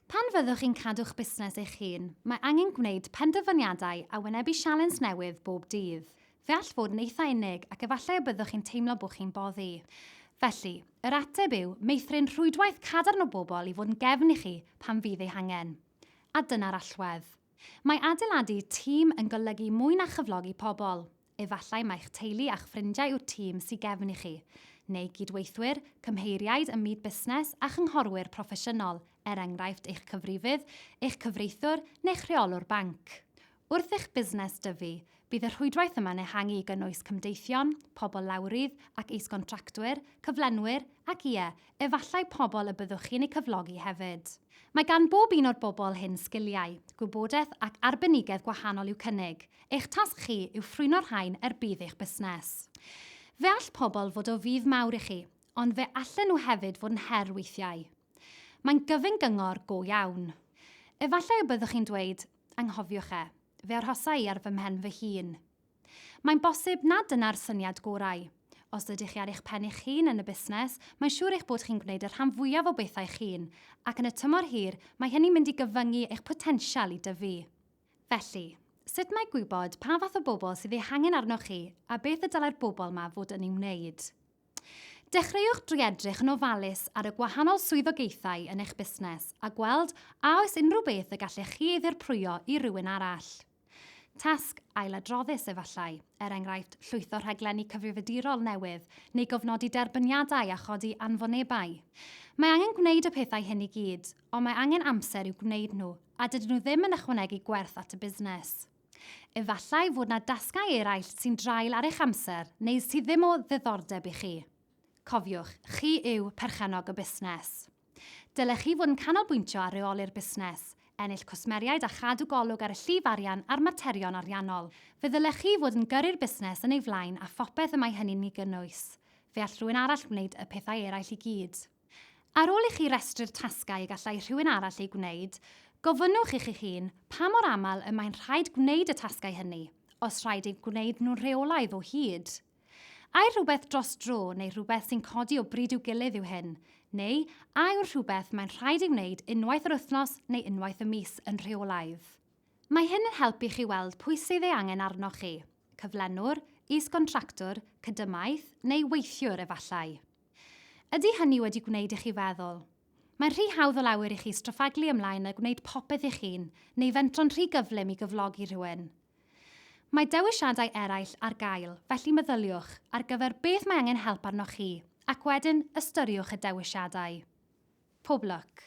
Pan fyddwch chi'n cadw'ch busnes eich hun, mae angen gwneud penderfyniadau a wynebu sialens newydd bob dydd. Fe all fod yn eitha' unig ac efallai y byddwch chi'n teimlo bod chi'n boddi. Felly, yr ateb yw meithrin rhwydwaith cadarn o bobl i fod yn gefn i chi pan fydd ei hangen. A dyna'r allwedd. Mae adeiladu tîm yn golygu mwy na chyflogi pobl. Efallai mai'ch teulu a'ch ffrindiau yw'r tîm sy gefn i chi, neu gydweithwyr, cymheiriaid ym myd busnes a chynghorwyr proffesiynol, er enghraifft eich cyfrifydd, eich cyfreithiwr neu'ch rheolwr banc. Wrth i'ch busnes dyfu, bydd y rhwydwaith yma'n ehangu i gynnwys cymdeithion, pobl lawrydd ac is-gontractwyr, cyflenwyr ac, ie, efallai pobl y byddwch chi'n eu cyflogi hefyd. Mae gan bob un o'r bobl hyn sgiliau, gwybodaeth ac arbenigedd gwahanol i'w cynnig, eich tasg chi yw ffrwyno'r rhain er budd eich busnes. Fe all pobl fod o fudd mawr i chi, ond fe allen nhw hefyd fod yn her weithiau. Mae'n gyfyng gyngor go iawn. Efallai y byddwch chi'n dweud, 'Anghofiwch e. Fe arhosa i ar fy mhen fy hun. Mae'n bosib nad dyna'r syniad gorau. Os ydych chi ar eich pen eich hun yn y busnes, mae'n siŵr eich bod chi'n gwneud y rhan fwyaf o bethau eich hun, ac yn y tymor hir, mae hynny'n mynd i gyfyngu eich potensial i dyfu. Felly, sut mae gwybod pa fath o bobl sydd eu hangen arnoch chi a beth y dylai'r bobl yma fod yn ei wneud? Dechreuwch drwy edrych yn ofalus ar y gwahanol swyddogaethau yn eich busnes a gweld a oes unrhyw beth y gallech chi ei ddirprwyo i rywun arall. Tasg ailadroddus efallai, er enghraifft llwytho rhaglenni cyfrifiadurol newydd neu gofnodi derbyniadau a chodi anfonebau. Mae angen gwneud y pethau hyn i gyd, ond mae angen amser i'w gwneud nhw a dydyn nhw ddim yn ychwanegu gwerth at y busnes. Efallai fod yna dasgau eraill sy'n draul ar eich amser neu sydd ddim o ddiddordeb i chi. Cofiwch, chi yw perchennog y busnes. Dylech chi fod yn canolbwyntio ar reoli'r busnes, ennill cwsmeriaid a chadw golwg ar y llif arian a'r materion ariannol. Fe ddylech chi fod yn gyrru'r busnes yn ei flaen a phopeth y mae hynny'n ei gynnwys. Fe all rhywun arall wneud y pethau eraill i gyd. Ar ôl i chi restru'r tasgau y gallai rhywun arall eu gwneud, gofynnwch i chi'ch hun pa mor aml y mae'n rhaid gwneud y tasgau hynny, os rhaid eu gwneud nhw'n rheolaidd o hyd. Ai rhywbeth dros dro neu rhywbeth sy'n codi o bryd i'w gilydd yw hyn? Neu a yw'r rhywbeth mae'n rhaid ei wneud unwaith yr wythnos neu unwaith y mis yn rheolaidd? Mae hyn yn helpu chi weld pwy sydd ei angen arnoch chi, cyflenwr, is-gontractwr, cydymaith, neu weithiwr, efallai. Ydy hynny wedi gwneud i chi feddwl? Mae'n rhy hawdd o lawer i chi straffaglu ymlaen a gwneud popeth eich hun, neu fentro'n rhy gyflym i gyflogi rhywun. Mae dewisiadau eraill ar gael, felly meddyliwch ar gyfer beth mae angen help arnoch chi, ac wedyn ystyriwch y dewisiadau. Pob lwc!